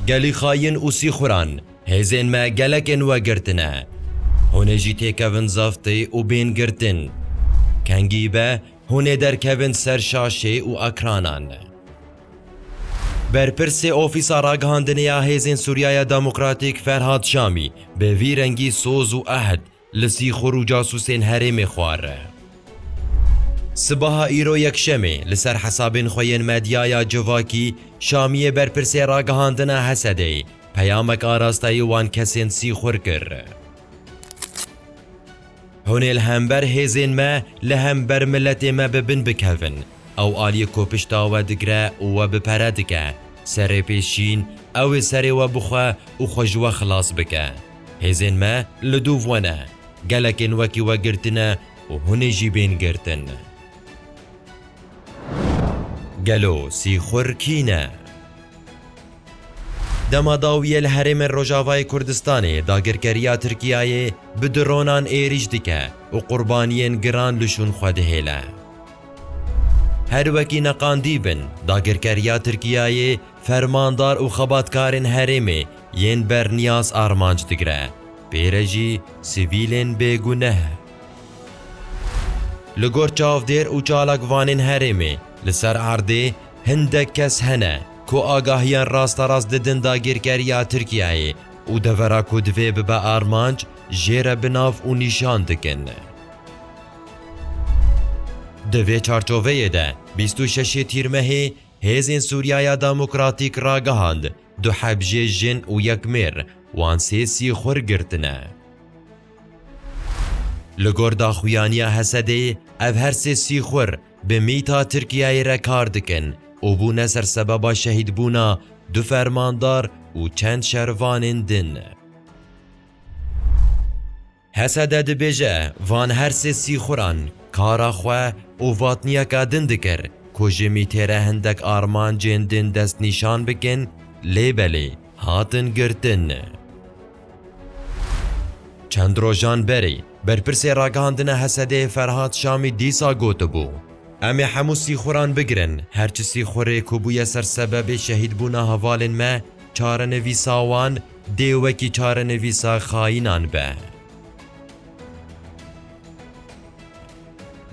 Gelî xayin û sîxuran hêzên me gelekên we girtine. Hûn ê jî têkevin zaftê û bên girtin. Kengî be hûn ê derkevin ser şaşê û ekranan. Berpirsê Ofîsa Ragihandinê ya Hêzên Sûriyaya Demokratîk Ferhad Şamî bi vî rengî soz û ehd Li sîxur û casûsên herêmê xware. Sibaha îro Yekşemê li ser hesabên xwe yên medyaya civakî Şamiyê berpirsê ragihandina Hesedê peyamek arasteyî wan kesên sîxur kir. Hûn ê li hember hêzên me li hember miletê me bi bin bikevin. Ew aliyê ku pişta we digre û we bi pere dike, serê pê şîn, ew ê serê we bixwe û xwe ji we xilas bike. Hêzên me li dû ve ne. Gelekên wekî we girtine û hûn ê jî bên girtin. Gelo sîxur kî ne? Dema dawiyê li herêmên Rojavayê Kurdistanê dagirkeriya Tirkiyeyê bi dronan êrîş dike û qurbaniyên giran li şûn xwe dihêle. Her wekî neqandî bin, dagirkeriya Tirkiyeyê fermandar û xebatkarên herêmê yên berniyaz armanc digire, pê re jî sivîlên bêguneh. Li gor çavdêr û çalakvanên herêmê li ser erdê hindek kes hene ku agahiyan rasterast didin dagirkeriya Tirkiyeyê û devera ku divê bibe armanc jê re bi nav û nîşan dikin. Di vê çarçoveyê de bîst û şeş ê Tîrmehê Hêzên Sûriyaya Demokratîk ragihand Du hebjê jin û yek mêr wan sê sîxur girtine. Li gor daxuyaniya Hesedeyê ev her sê sîxur bi mîta Tirkiyeyê re kar dikin û bûne ser sebeba şehîdbûna du fermandar û çend şervanên din. Hesede dibêje van her sê sîxuran kara xwe û vatniyeka din dikir ku ji mîtêre hindek armancên din destnîşan bikin lê belê hatin girtin. Çend rojan berê berpirsê ragihandina Hesedê Ferhad Şamî dîsa gotibû, Em ê hemû sîxuran bigirin, her çi sîxurê ku bûye ser sebebê şehîdbûna hevalên me çarenivîsa wan, Dê wekî çarenivîsa xayînan be.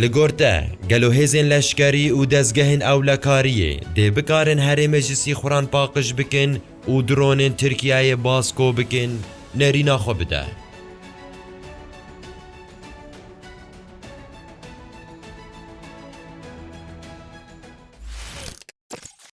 Li gor te, gelo hêzên leşkerî û dezgehên ewlekariyê dê bikarin herê meclisî xuran paqij bikin û dronên Tirkiyeyê baz ko bikin nerîna xwe bide?